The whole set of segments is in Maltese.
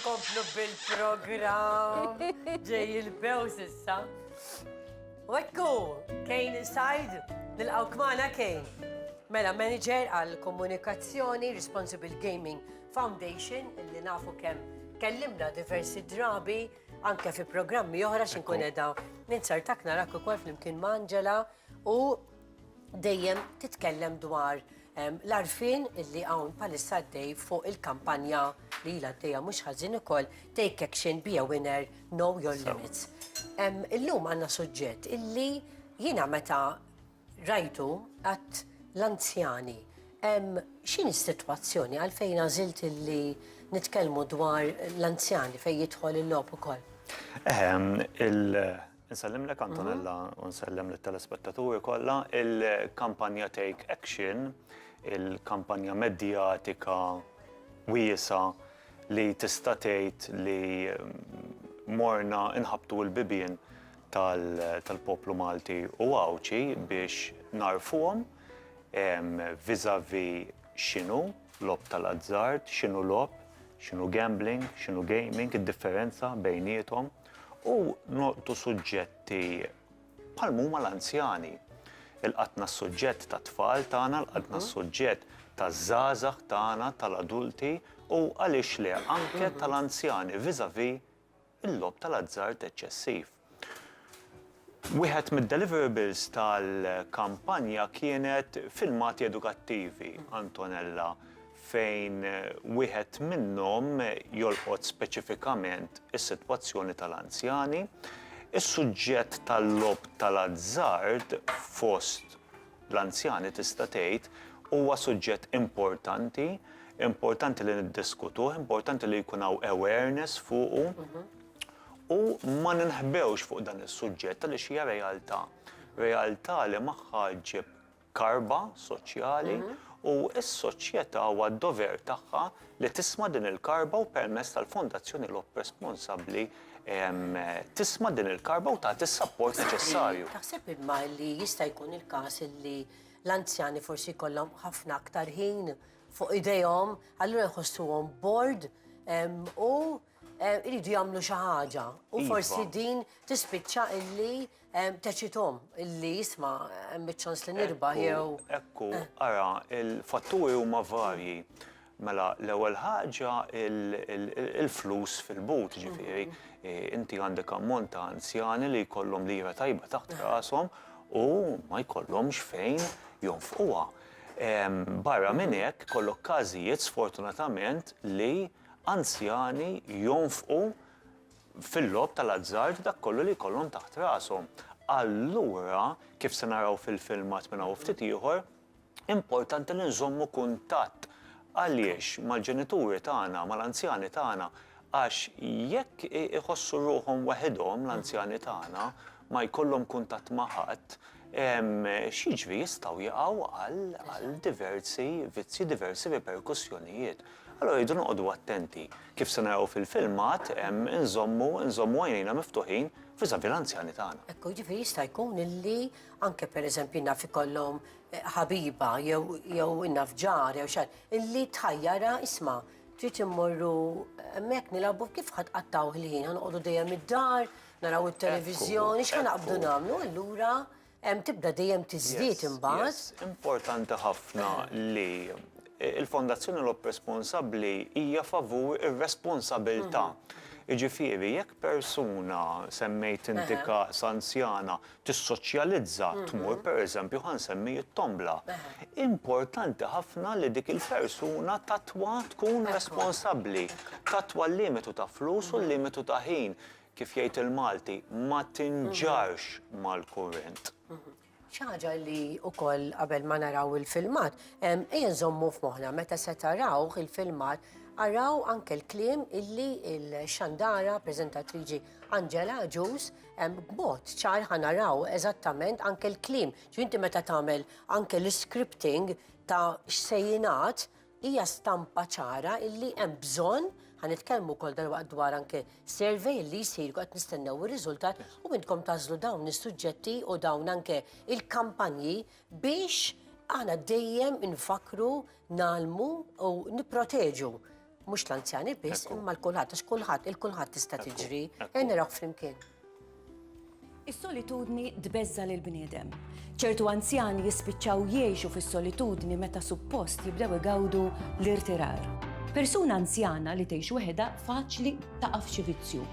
Nkomplu bil-programm. Ġej il-bews issa. U ekku, Kejn inside, nilqaw kmana Kejn. Mela, manager għal komunikazzjoni Responsible Gaming Foundation, illi nafu kem kellimna diversi drabi, anke fi programmi oħra xinkun edha. Ninsartak narak u kol fl-imkien ma' Angela u dejjem titkellem dwar l-arfin illi hawn palissa għaddej fuq il-kampanja li ilha għaddejja mhux ħażin ukoll Take Action Be a Winner Know Your Limits. Illum għandna suġġett illi jiena meta rajtu għat l-anzjani. X'in is-sitwazzjoni għalfejn għażilt illi nitkellmu dwar l-anzjani fejn jidħol il-logħob ukoll? Insellimlek Antonella u nsellem lit-telespettaturi kollha. Il-kampanja Take Action, il-kampanja medjatika wiesgħa li tista' tgħid li morna nħabbtu l-bibien tal-poplu Malti u Għawdxi biex nagħrfuhom vis-à-vis x'inhu logħob tal-azzard, x'inhu logħob, x'inhu gambling, x'inhu gaming, id-differenza bejniethom. u nolqtu suġġetti bħal huma l-anzjani. Il-qatna s-suġġett ta' tfal tagħna, l-qatna mhm. s-suġġett ta' żgħażagħ tagħna, tal-adulti u għaliex le anke mhm. tal-anzjani viżavi il-lob tal-azzard eċċessiv. Wieħed mid-deliverables tal-kampanja kienet filmati edukattivi, Antonella, fejn wieħed minnhom jolqot speċifikament is-sitwazzjoni tal-anzjani. Is-suġġett tal-logħob tal-azzard fost l-anzjani tista' tgħid huwa suġġett importanti, importanti li niddiskutuh, importanti li jkun hawn awareness fuqu. U ma ninħbewx fuq dan is-suġġett għaliex hija realtà. Realtà li magħha ġġib karba soċjali mhm. u s-soċjetà huwa d-dover tagħha li tisma' din il-karba u permess tal-Fondazzjoni Lop responsabbli tisma din il-karba u tagħti s-sapport neċessarju. Taħseb imma li jista' jkun il-każ li l-anzjani forsi jkollhom ħafna aktar ħin fuq idejhom, allura jħossuhom bored u iridu jagħmlu xi ħaġa u Iva. forsi din tispiċċa illi em, teċitom illi jisma' hemm iċ-ċans li nirbaħ Ekku, jew Ekku, ara, il-fatturi huma varji. Mela, l-ewwel ħaġa il- il- il- il-flus fil-but, ġifieri, eh, inti għandek ammont ta' anzjani li jkollhom lira tajba taħt rashom u ma jkollhomx fejn jonfquha. Em, Barra minn hekk, kollok każijiet sfortunatament li anzjani jonfqu fil-logħob tal-azzard dak kollu li jkollhom taħt rashom. Allura, kif se naraw fil-filmat minn hawn u ftit ieħor, importanti li nżommu kuntatt għaliex mal-ġenituri tagħna, mal-anzjani tagħna, għax jekk iħossu ruħhom waħidhom l-anzjani tagħna, ma jkollhom kuntatt ma' ħadd, x'jiġri jistgħu jaqgħu għal diversi vizzji, diversi riperkussjonijiet. Allura rridu noqogħdu attenti, kif se naraw fil-filmat, inżommu nżommu għajnejna miftuħin viżavi l-anzjani tagħna. Ekku, jiġifieri jista' jkun illi anke pereżempju naf ikollhom eh, ħabiba jew jew naf ġar jew xar, illi tħajjara isma' trid immorru hemmhekk nilagħbu kif ħadd qattaw ħin, noqogħdu dejjem id-dar, naraw it-televiżjoni, x'ħa naqbdu nagħmlu allura Hemm tibda dejjem tiżdied imbagħad. Importanti ħafna li il-Fondazzjoni Lob Responsabbli hija favur ir-responsabilità. Jiġifieri jekk persuna semmejt inti każ anzjana tissoċjalizza tmur pereżempju ħa nsemmi it-tombla. Importanti ħafna li dik il-persuna tatwa tkun responsabbli, tatwa l-limitu ta' flus u l-limitu ta' ħin. kif jgħid il-Malti, ma tinġarx mal-kurrent. Xi ħaġa li wkoll qabel ma naraw il-filmat, ejja nżommu f'moħħna meta se tarawh il-filmat, araw anke l-kliem illi l-xandara preżentatriċi Angela Ġus b'mod ċar ħanaraw eżattament anke l-kliem. Ġifieri inti meta tagħmel anke l-iscripting ta' x'se jingħad, Hija stampa ċara illi hemm bżonn, ħa nitkellmu wkoll dalwaqt dwar anke survey li jsir qed nistennew ir-riżultat u intkom tażlu dawn is-suġġetti u dawn anke il-kampanji biex aħna dejjem infakru nalmu u nipproteġu mhux l-anzjani biss imma l-kulħadd għax kulħadd il-kulħadd tista' tiġri. Ejn naraw flimkien. Is-solitudni tbeżża' lill-bniedem. Ċertu anzjani jispiċċaw jgħixu fis-solitudni meta suppost jibdew igawdu l-irtirar. Persuna anzjana li tgħix weħedha faċli taqa' f'xi vizzju.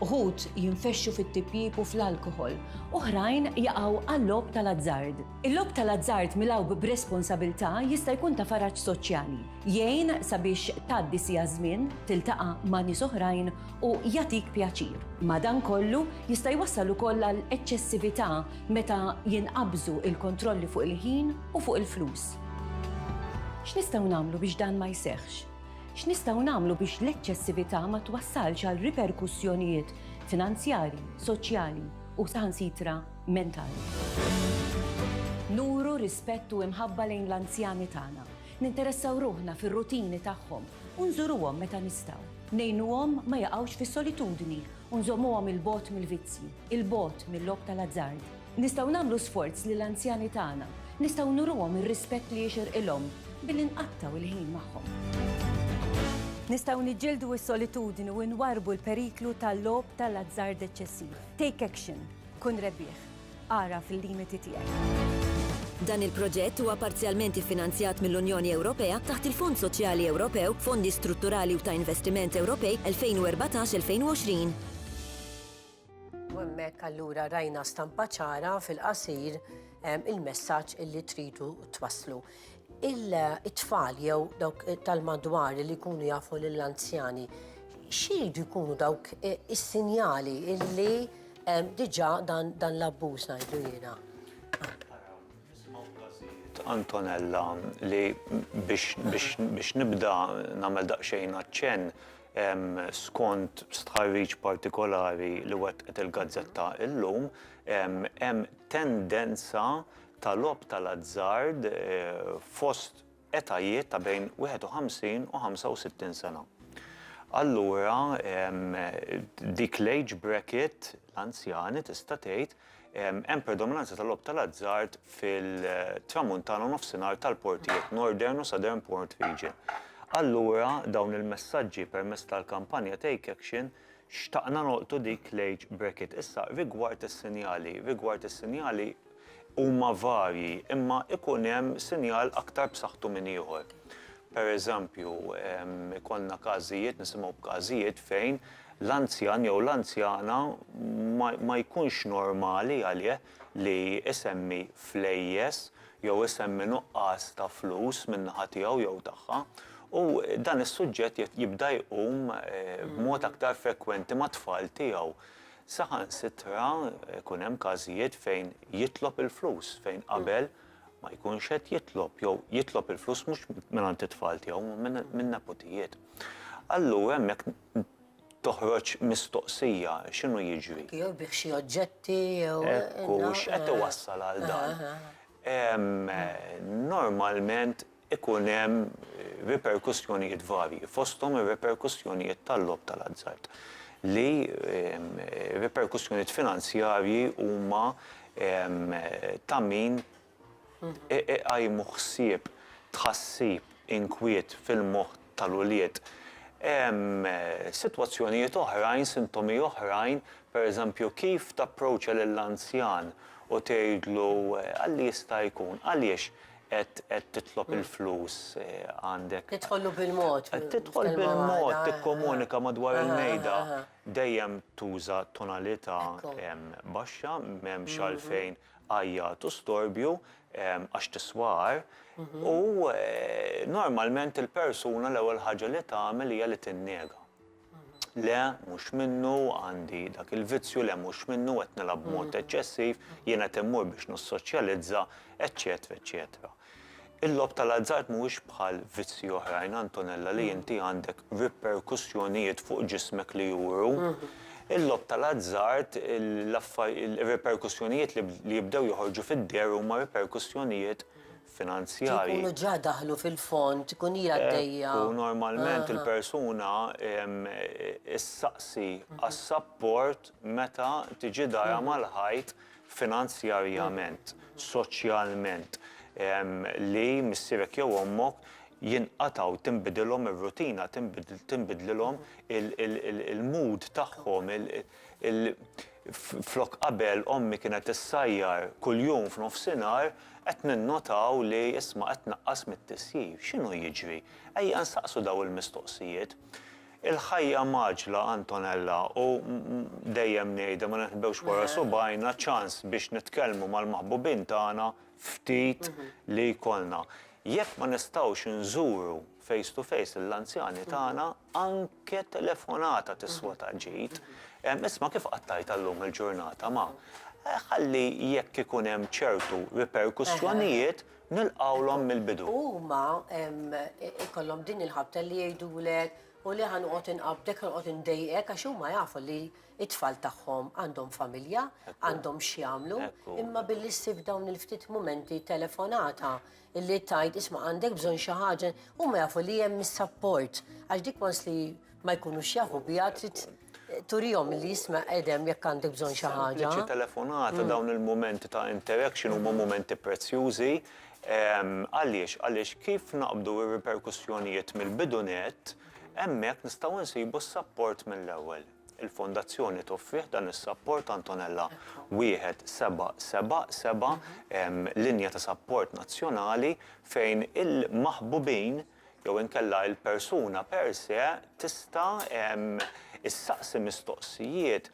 Uħud jinfexxu fit-tipjip u fl-alkoħol, oħrajn jaqgħu għal-logħob tal-azzard. Il-logħob tal-azzard milgħub b'responsabilità jista' jkun ta' faraġ soċjali, jgħin sabiex tgħaddi siegħa żmien, tiltaqa' ma' nies oħrajn u jagħtik pjaċir. Madankollu, jista' jwassal ukoll għal eċċessività meta jinqabżu l-kontrolli fuq il-ħin u fuq il-flus. X'nistgħu nagħmlu biex dan ma jseħħx? X'nistgħu nagħmlu biex l-eċċessività ma twassalx għal riperkussjonijiet finanzjarji, soċjali u saħansitra mentali? Nuru rispett u imħabba lejn l-anzjani tagħna. Ninteressaw ruħna fir-rutini tagħhom u nżuruhom meta nistgħu. Ngħinuhom ma jaqgħux fis-solitudni u nżommuhom 'il bogħod mill-vizzji, 'il bogħod mil-logħob tal-azzard. Nistgħu nagħmlu sforz li l-anzjani tagħna, nistgħu nuruhom ir-rispett li jixirqilhom billi nqattgħu l-ħin magħhom. Nistgħu niġġieldu s-solitudni u nwarrbu l-periklu tal-logħob tal-azzard eċċessiv. Take action. Kun rebbieħ. Agħraf il-limiti tiegħek. Dan il-proġett huwa parzjalment iffinanzjat mill-Unjoni Ewropea taħt il-Fond Soċjali Ewropew, Fondi Strutturali u ta' Investiment Ewropej 2014-2020. U hemmhekk allura rajna stampa ċara fil-qasir il-messaġġ illi tridu twasslu. Il-tfal jew dawk tal-madwar li jkunu jafu lill-anzjani, xiridu jkunu dawk is-sinjali illi Diġà dan l-abbuż ngħidlu jiena. Antonella li biex nibda nagħmel daqsxejn aċċenn skont stħarriġ partikolari li wettqet il-gazzetta illum hemm tendenza ta' logħob tal-azzard fost etajiet ta' bejn 51 u 65 sena. Allura dik l-age bracket, l-anzjani tista' tgħid, hemm predominanza tal-logħob tal-azzard fil-Tramuntana u Nofsinhar tal-portijiet, Northern u Southern Port Region. Allura dawn il-messaġġi permezz tal-kampanja Take Action xtaqna nolqtu dik l-age bracket. Issa rigward is-sinjali, rigward is-sinjali huma varji imma ikun hemm sinjal aktar b'saħħtu minn ieħor. Per eżempju, ikollna każijiet, nisimgħu b'każijiet fejn l-anzjan jew l-anzjana ma jkunx normali għalih li jsemmi flejjes jew isemmi nuqqas ta' flus min-naħa tiegħu jew tagħha u dan is-suġġett jibda jqum b'mod aktar frekwenti mat-tfal tiegħu. Saħansitra jkun hemm każijiet fejn jitlob il-flus fejn qabel ma jkunx qed jitlob jew jitlob il-flus mhux mingħand it-tfal tiegħu imma minn neputijiet. Allura hemmhekk toħroġ mistoqsija x'inhu jiġri. Jekk jorbieħ xi oġġetti jew. Hekk hu, x'qed iwassal għal dan? Normalment ikun hemm riperkussjonijiet varji, fosthom ir-riperkussjonijiet tal-logħob tal-azzard, li riperkussjonijiet finanzjarji huma ta' min iqajmu ħsieb, tħassib, inkwiet fil-moħħ tal-ulied. Hemm sitwazzjonijiet oħrajn, sintomi oħrajn, pereżempju kif tapproċċja lill-anzjan u tgħidlu għal li jista' jkun, għaliex Qed qed titlob il-flus għandek. Tidħollu bil-mod. Qed tidħol bil-mod tikkomunika madwar il-mejda. Dejjem tuża tonalità baxxa m'hemmx għalfejn għajjat u storbju għax tiswa agħar u normalment il-persuna l-ewwel ħaġa li tagħmel hija li tinnega. Le, mhux minnu, għandi dak il-vizzju, le mhux minnu, qed nilgħab b'mod eċċessiv, jien qed immur biex nissoċjalizza, eċċetera, eċċetera. Il-logħob tal-azzard mhuwiex bħal vizzji oħrajn, Antonella, li inti għandek riperkussjonijiet fuq ġismek li juru. Il-logħob tal-azzard, ir-riperkussjonijiet li jibdew joħorġu fid-deher huma riperkussjonijiet finanzjarji. Jkunu ġa daħlu fil-fond, tkun hi għaddejja. Hekk hu, normalment il-persuna ssaqsi għas-sapport meta tiġi darha mal-ħajt finanzjarjament, soċjalment, li missierek jew ommok jinqatgħu, tinbidilhom ir-rutina, tinbidlilhom il-mood tagħhom. Flok qabel ommi kienet issajjar kuljum f'nofsinhar, qed ninnotaw li isma' qed tnaqqas mit-tisjir. X'inhu jiġri? Ejja nsaqsu dawn il-mistoqsijiet. Il-ħajja mgħaġġla, Antonella, u dejjem ngħidha ma ninħbewx wara subgħajna, ċans biex nitkellmu mal-maħbubin tagħna ftit li jkollna. Jekk ma nistgħux inżuru face to face lill-anzjani tagħna, Anke telefonata tiswa ta' ġid. Isma' kif qattajtha llum il-ġurnata ma'. Ħalli jekk ikun hemm ċertu riperkussjonijiet nilqgħulhom mill-bidu. U huma jkollhom din il-ħabta li jgħidulek u li ħa noqgħod inqabdek, ħa noqgħod indejqek għax huma jafu li t-tfal tagħhom għandhom familja, għandhom x'jagħmlu, imma billi ssib dawn il-ftit mumenti telefonata illi tajt isma' għandek bżonn xi ħaġa huma jafu li hemm is-sapport għax dik wans li ma jkunux jafu biha trid turihom li jisma' qedem jekk għandek bżonn xi ħaġa. Sempliċi telefonata mm. dawn il-mumenti ta' interaction huma mm. mumenti prezzjużi. Għaliex, għaliex kif naqbdu r-riperkussjonijiet mill-bidunet, hemmhekk nistgħu nsibu s-sapport mill-ewwel. Il-Fondazzjoni toffrih dan is-sapport Antonella 1777, linja ta' sapport nazzjonali fejn il-maħbubin jew inkella il-persuna per se tista' ssaqsi mistoqsijiet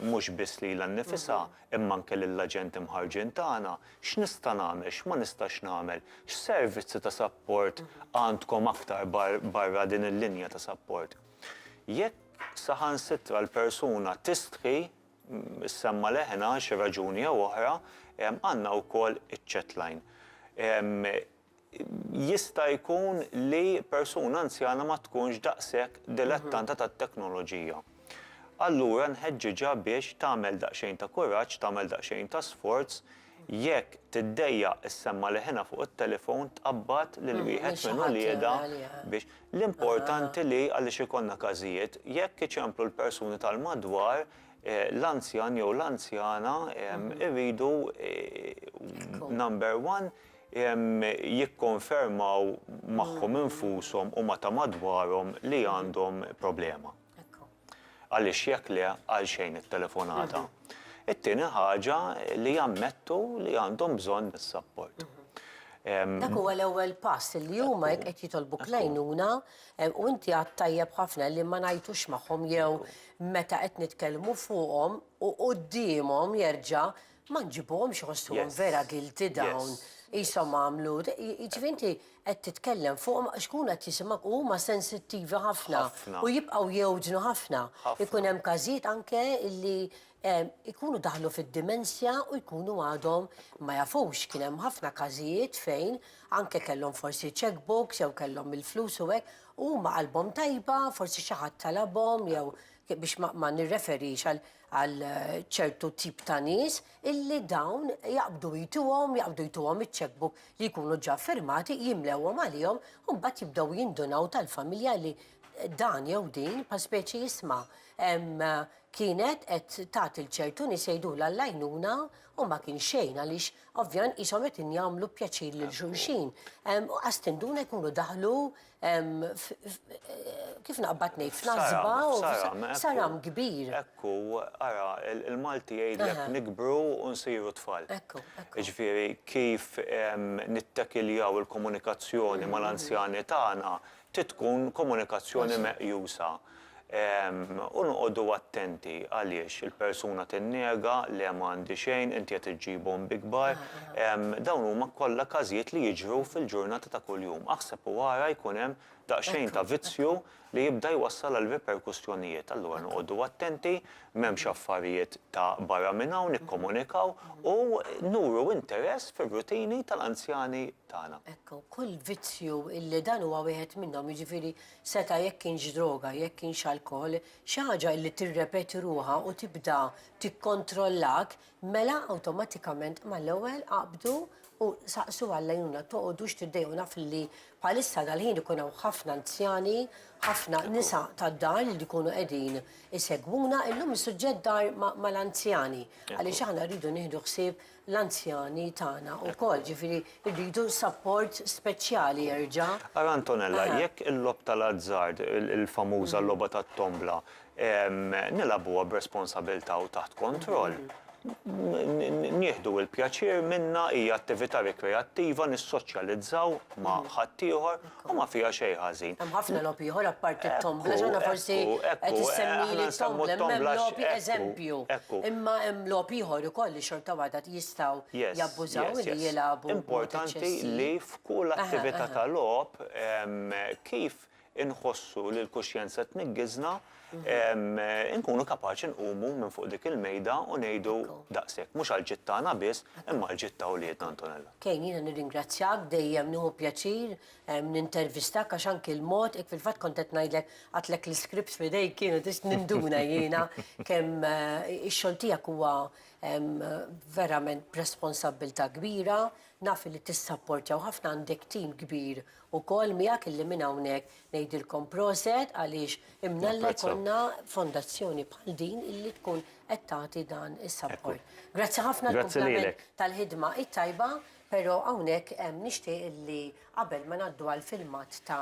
mhux biss lilha nnifisha imma anke lill-aġenti mħarrġin tagħna, x'nista' nagħmel, x'ma nistax nagħmel, x'servizzi ta' sapport għandkom aktar barra din il-linja ta' sapport? Jekk saħansitra l-persuna tistħi, issemma' leħinha għal xi raġuni jew oħra, għandna wkoll iċ-chat line. Jista' jkun li persuna anzjana ma tkunx daqshekk dilettanta tat-teknoloġija. Allura nħeġġiġha biex tagħmel daqsxejn ta' kuraġġ, tagħmel daqsxejn ta' sforz, Jekk tiddejjaq issemma' leħinha fuq it-telefon tqabbad lil wieħed minn uliedha biex L-importanti li, għaliex ikollna każijiet, jekk iċemplu l-persuni tal-madwar, l-anzjan jew l-anzjana jridu number one jikkonfermaw magħhom infushom u ma' ta' madwarhom li għandhom problema. Għaliex jekk le, għalxejn it-telefonata? It-tieni ħaġa li jammettu li għandhom bżonn is-sapport. Dak huwa l-ewwel pass li huma jekk qed jitolbu klejnuna u inti għad tajjeb ħafna li ma ngħajtux magħhom jew meta qed nitkellmu fuqhom u quddiemhom jerġa' Ma nġibuhomx iħossuhom vera guilty dawn, qishom għamlu, jiġifieri inti qed titkellem fuqhom għax ikunu qed jisimgħuk u huma sensittivi ħafna u jibqgħu jewġnu ħafna. Ikun hemm każijiet anke illi jkunu daħlu fid-dimensja u jkunu għadhom ma jafux. Kien hemm ħafna każijiet fejn anke kellhom forsi cheque books jew kellhom il-flus u hekk u huma qalbhom tajba, forsi xi ħadd talabhom jew biex ma nirreferix għal għal ċertu tip ta' nies illi dawn jaqbdu jtuhom, jaqbdu jtuhom iċ-checkbook li jkunu ġa firmati, jimlewhom għalihom u mbagħad jibdew jindunaw tal-familja li dan jew din pa speċi jisma' kienet qed tagħti l-ċertu nies jgħidulha l-għajnuna u ma kien xejn għaliex ovvjament qishom qed jagħmlu pjaċir lil xulxin. U qas tinduna jkunu daħlu Kif naqbad ngħid, f'Nazba u f'Saram kbir. Hekk hu, ara, il-Malti jgħidlek nikbru u nsiru tfal. Jiġifieri kif nittakiljaw il-komunikazzjoni mal-anzjani tagħna trid tkun komunikazzjoni meqjusa. U noqogħdu attenti għaliex il-persuna tinnega, le ma għandi xejn, inti qed iġġibhom bi kbar. Dawn huma kollha każijiet li jiġru fil-ġurnata ta' kuljum. Aħseb u ara jkun hemm daqsxejn ta' vizzju li jibda jwassal għal riperkussjonijiet. Allura noqogħdu attenti, m'hemmx affarijiet ta' barra minn hawn, nikkomunikaw u nuru interess fir-rutini tal-anzjani tagħna. Ekk, kull vizzju li dan huwa wieħed minnhom, jiġifieri Seta' jekk kienx droga, jekk kienx alkoħol, xi ħaġa illi tirrepeti ruħha u tibda tikkontrollak, mela awtomatikament mal-ewwel qabdu u saqsu għall-għajnuna. Toqogħdux tiddejqu naf illi bħalissa dal-ħin ikun hawn ħafna anzjani, ħafna nisa tad-dar li jkunu qegħdin isegwuna. Illum is-suġġett dar mal-anzjani għaliex aħna rridu nieħdu ħsieb l-anzjani tagħna wkoll, ġifieri rridu sapport speċjali erġa'. Ara Antonella, jekk il-logħob tal-azzard, il-famuża logħba tat-tombla, nilagħbuha b'responsabilità u taħt kontroll, nieħdu l-pjaċir minnha, hija attività rikreattiva, nissoċjalizzaw ma' ħaddieħor, U ma fiha xejn ħażin. Hemm ħafna logħob ieħor apparti t-tombla, x'aħna forsi qed issemmi t-tombla, imma hemm logħob eżempju. Imma hemm logħob ieħor ukoll li xorta waħda jistgħu jabbużaw li jilagħbu. Importanti li f'kull attività ta' logħob kif inħossu li l-kuxjenza tniggiżna, inkunu kapaċi nqumu minn fuq dik il-mejda u ngħidu daqs hekk, mhux għall-ġid tagħna biss, imma għall-ġid ta' wliedna, Antonella. Kane, jiena nirringrazzjak, dejjem nieħu pjaċir nintervistak għax anki l-mod, hekk fil-fatt kont qed ngħidlek għadtlek l-iskripts f'idejk jiena tista' ninduna jiena kemm ix-xogħol tiegħek huwa verament b'responsabbiltà kbira, naf li tissapportjaw ħafna, għandek tim kbir ukoll miegħek illi minn hawnhekk ngħidilkom proset għaliex imnalla jkollna fondazzjoni bħal din illi tkun qed tagħti dan is-support. Grazzi ħafna għall-kumplament tal-ħidma t-tajba, però hawnhekk nixtieq illi qabel ma ngħaddu għall-filmat ta'